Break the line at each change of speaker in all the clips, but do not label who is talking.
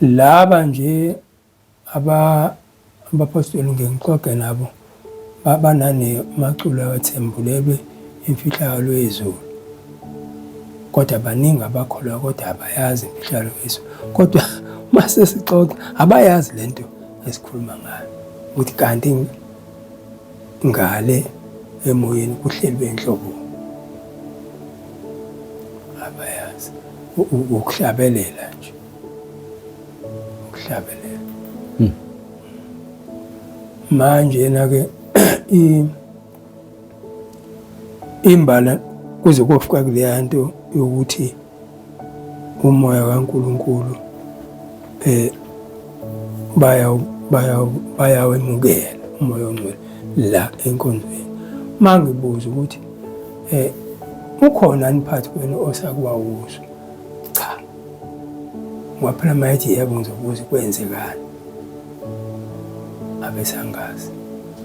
Laba nje abaphostoli ngike ngixoxe nabo banane maculo awathembulelwe imfihlakalo yezulu kodwa baningi abakholwa kodwa abayazi imfihlakalo yezulu kodwa uma sesixoxa abayazi le nto esikhuluma ngayo ukuthi kanti Ngale emoyeni kuhlelwe inhlobo abayazi ukuhlabelela nje ukuhlabelela hmm. manje yena ke imbala kuze kofika kuleya nto yokuthi umoya kaNkulunkulu eh baya baya bayawemukela umoya ongcwele la enkonzweni mangibuza ukuthi eh ukhona aniphathi kwenu osakwawuzo cha waphela mayithi yebo ngizobuza kwenzekani abesangazi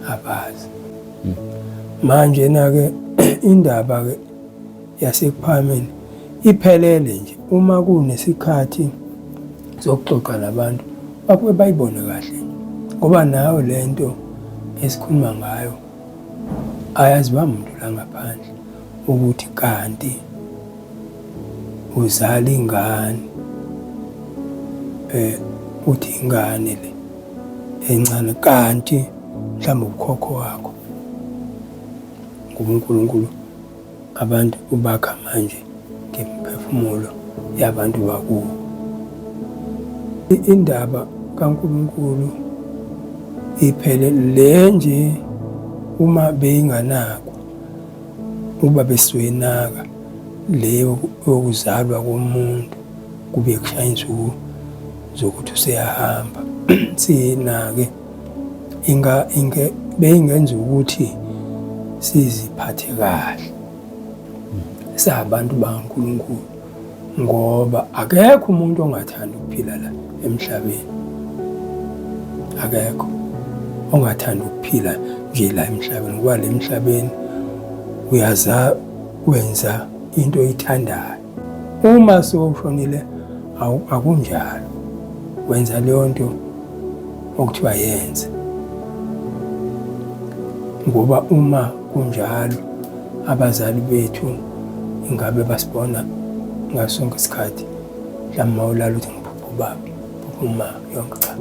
abazi hmm. manje na ke indaba ke yaseKuphakameni iphelele nje uma kunesikhathi sokuxoxa nabantu bakuke bayibone kahle ngoba nayo le nto esikhuluma ngayo ayaziwa muntu la ngaphandle ukuthi kanti uzala ingane eh uthi ingane le encane kanti mhlawumbe ukhokho wakho nguNkulunkulu Abantu ubakha manje ngemiphefumulo yabantu bakubo. Indaba kaNkulunkulu iphele le nje uma beyinganakwa uba besuyenaka le yokuzalwa komuntu kube kushaya insuku zokuthi useyahamba siyinake inga inge beyingenza ukuthi siziphathe kahle sabantu bakaNkulunkulu ngoba akekho umuntu ongathanda ukuphila la emhlabeni akekho ongathanda ukuphila nje la emhlabeni ngoba le mhlabeni uyaza wenza into oyithandayo Uma sewushonile akunjalo, wenza leyo nto okuthiwa yenze, ngoba uma kunjalo abazali bethu ingabe basibona ngaso sonke isikhathi mhlawumbe mawulala ukuthi ngiphupha ubaba phupha uma yonke cha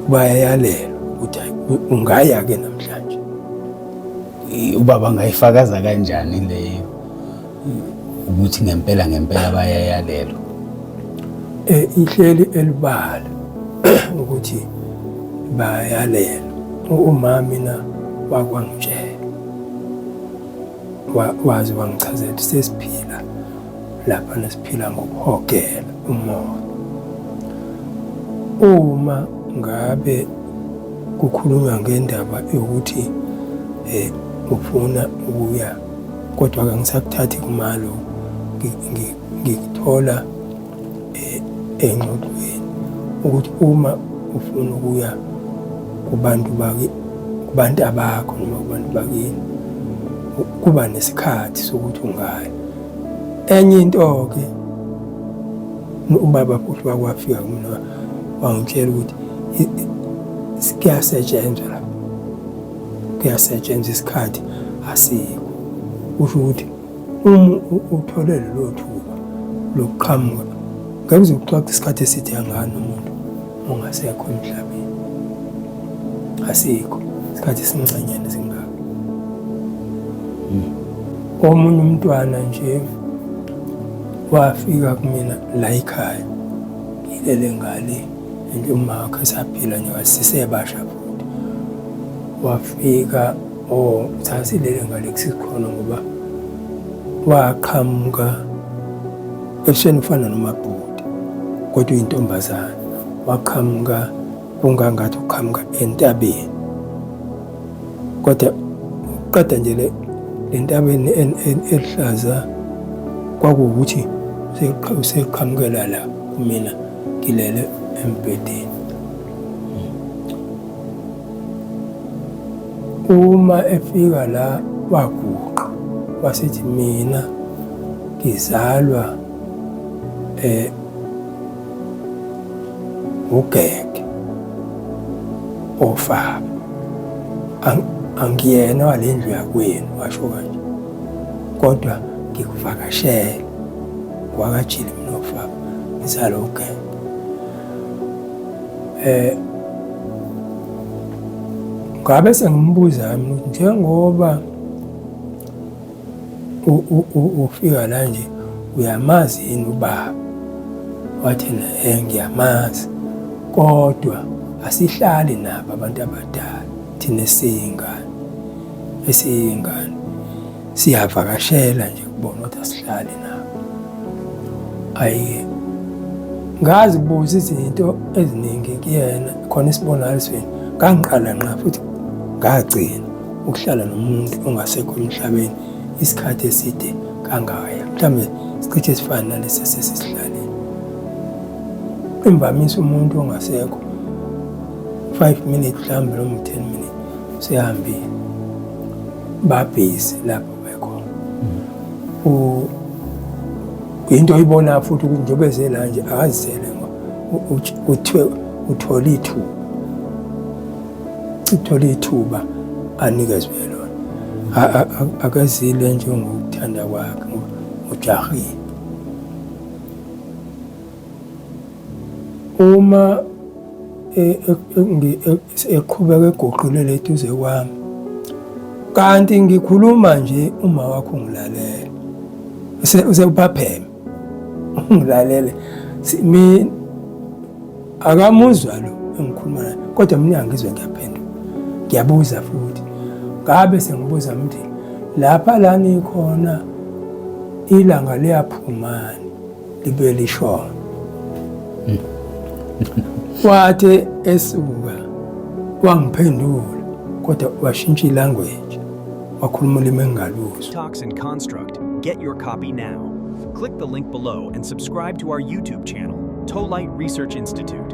bayayalelwa ukuthi ungaya-ke namhlanje
ubaba angayifakaza kanjani leyo ukuthi ngempela ngempela bayayalelwa eh
ihleli elibala ukuthi bayalelwa umami na wakwangitshela wazi wangichazela sesiphila lapha nesiphila ngokuhogela umoya uma ngabe kukhulunywa ngendaba yokuthi eh ufuna ukuya kodwa ke ngisakuthathi kumalo ngikuthola eh, engxoxweni ukuthi uma ufuna ukuya kubantu baki kubantu abakho noma kubantu bakini kuba nesikhathi sokuthi ungaya Enye into-ke ubaba futhi wakwafika kumina wangitshela ukuthi kuyasetshenzwa la kuyasetshenzwa isikhathi asikho kusho ukuthi uma uthole lelo thuba lokuqhamuka ngeke uze uxoxe isikhathi eside kangaka nomuntu ungasekho emhlabeni asikho isikhathi esincanyana singaka omunye umntwana nje wafika kumina la ekhaya ngilele ngale and umakhe esaphila nje wasisebasha futhi wafika o oh, sasilele ngale kusikhona ngoba waqhamuka Ebusweni ufana nomabhuti kodwa uyintombazane waqhamuka kungangathi uqhamuka entabeni kodwa qeda nje le ntabeni eluhlaza kwakuwukuthi seqhamukela la kumina ngilele embhedeni Uma efika la waguqa wasethi mina ngizalwa eh ugeke ofaba angiyena walendlu yakwenu washo kanje kodwa ngikuvakashele wakajile mina ofaba ngizalwa ugeke eh ngabe sengimbuza mina ukuthi njengoba ufika la nje uyamazi yini ubaba wathena eh ngiyamazi kodwa asihlali nabo abantu abadala thina siyingane esiyingane siyavakashela nje kubona ukuthi asihlale nabo ayike ngazi kubuza izinto eziningi kuyena khona isibonakalisweni ngangiqala nqa futhi ngagcina ukuhlala nomuntu ongasekho emhlabeni isikhathi eside kangaya mhlawumbe sicishe esifana nalesi esesisihlalile imvamisa umuntu ongasekho five minutes mhlawumbe noma ten minutes sehambile babhizi lapho bekhona into oyibona futhi ukuthi njengoba ezela nje akazisele kuthiwe uthole ithuba uthole ithuba anikezwe lona akezile njengokuthanda kwakhe ujahile Uma eqhubeka eguqulele eduze kwami kanti ngikhuluma nje uma wakho ngilalele usebaphapheme ngilalele mi akamuzwa lo engikhuluma naye kodwa mina angizwe ngiyaphendula ngiyabuza futhi ngabe sengibuza mthi lapha lani khona ilanga liyaphumani libuye lisho wathe esuka wangiphendula kodwa washintsha ilanguage wakhuluma ulimi engingaluzwa Talks and Construct.
Get your copy now. Click the link below and subscribe to our YouTube channel, Tolite Research Institute.